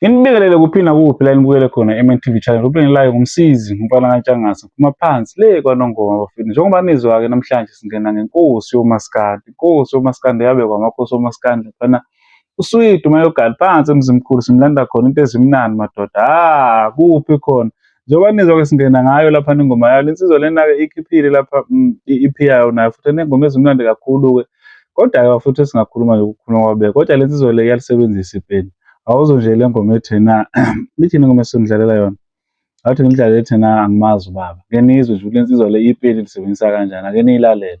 Nginibikelele kuphi nakuphi la nibukele khona eMNTV channel kube ngilayo ngumsizi ngumfana kaNtshangase ngiphuma phansi le kwaNongoma bafethu njengoba nizwa-ke namhlanje singena ngenkosi yomaskandi inkosi yomaskandi yabekwa amakhosi omaskandi mfana uswidi umayogani phansi emzimkhulu simlanda khona into ezimnandi madoda ha kuphi khona njengoba nizwa ke singena ngayo lapha nengoma yayo lensizwa lena-ke ikhiphile lapha mm, i-ep yayo nayo futhi enengoma ezimnandi kakhulu-ke kodwa-ke futhi esingakhuluma nje ukukhuluma kwabeka kodwa lensizwa le iyalisebenzisa ipeni awuzo nje le ngoma ethena ithini ngoma esindlalela yona awuthi ngilidlalela ethena angimazi ubaba ke nizwe nje ukuthi lensizwa le ipeni lisebenzisa kanjani ake niyilalele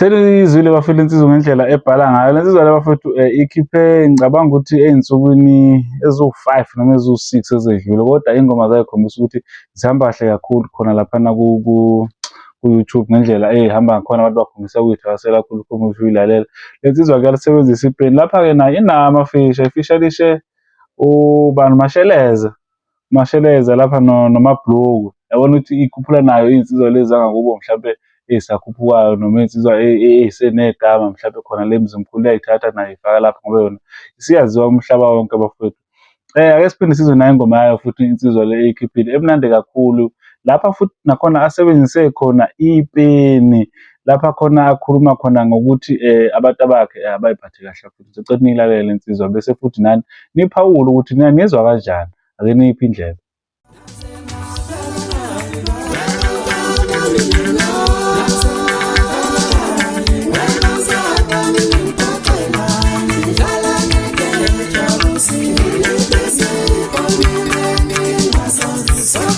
Selizwile bafethu insizwa ngendlela ebhala ngayo. Le nsizwa le bafethu eh, ikhiphe ngicabanga ukuthi ey'nsukwini eziwu-five noma eziwu-six ezedlule kodwa iy'ngoma zayo khombisa ukuthi zihamba kahle kakhulu khona laphana ku-YouTube ngendlela ehamba ngakhona abantu bakhombisa ukuyithakasela kakhulu uma usuyilalela. Le nsizwa kuyalisebenzisa ipeni. Lapha-ke nayo inamafishi, ifisha lishe ubani Masheleza. Masheleza lapha no nomabhluku yabona ukuthi ikhuphula nayo iy'nsizwa lezi zangakubo mhlampe ey'sakhuphukayo noma iy'nsizwa ey'senegama mhlampe khona le mzimkhulu iyayithatha nayo ifaka lapha ngoba yona isiyaziwa umhlaba wonke abafowethu Eh ake siphinde sizwe nayo ingoma yayo futhi insizwa le eyikhiphile emnandi kakhulu lapha futhi nakhona asebenzise khona ipeni lapha khona akhuluma khona ngokuthi eh, abantu abakhe eh, abayiphathe kahle futhi sicela nilalele insizwa bese futhi nani niphawule ukuthi nina nizwa kanjani ake niphi indlela Sibonga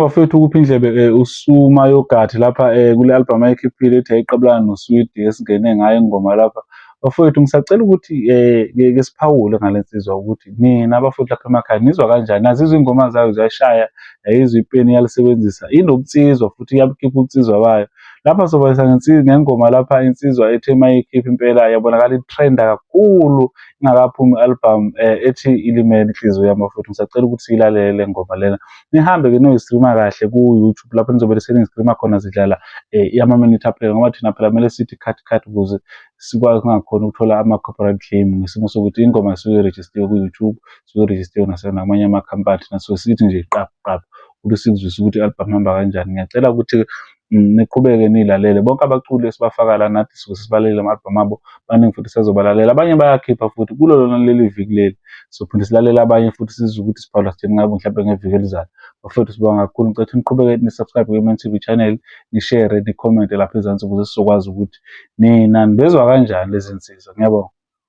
bafethu ukupha indlebe eh, usuma yogathi lapha eh, kule album ayikhiphile ethi ayiqabulana noswidi esingene ngayo ingoma lapha Bafowethu ngisacela ukuthi um ke siphawule ngale nsizwa ukuthi nina bafowethu lapha emakhaya nizwa kanjani, nazizwa iy'ngoma zayo ziyashaya, yayizwa ipeni iyalisebenzisa, inobunsizwa futhi iyabukhipha ubunsizwa bayo. Lapha sobalisa ngengoma lapha insizwa ethe uma iyikhipha impela yabonakala itrenda kakhulu ingakaphumi i-albhamu um ethi ilimele inhliziyo yami bafowethu, ngisacela ukuthi siyilalele le ngoma lena nihambe ke noyistreama kahle ku-youtube lapho nizobe seningistreama khona zidlala um eh, amaminithi aphela ngoba thina phela kumele sithi cut cut ukuze sikwazi singakhona ukuthola ama-corporate claim ngesimo sokuthi ingoma isuke irejistiwe ku-youtube isuke irejistiwe nasenamanye amakhampani thina so sithi nje qaphu qaphu ukuthi sikuzwise ukuthi i-albhamu hamba kanjani ngiyacela ukuthi Mm, niqhubeke nilalele bonke abaculi esibafaka la nathi suke sisibalele ama-albhamu abo baningi futhi sazobalalela abanye bayakhipha futhi kulo lona leli viki leli sophinde silalele abanye futhi sizwe ukuthi sibhalwa sithini ngabo mhlawumbe ngeviki elizayo bafethu sibonga kakhulu ngicethe niqhubeke nisubscribe kwi-man tv channel nishere nikhomente lapha ezansi ukuze sizokwazi ukuthi nina nibezwa kanjani lezi nsizwa ngiyabonga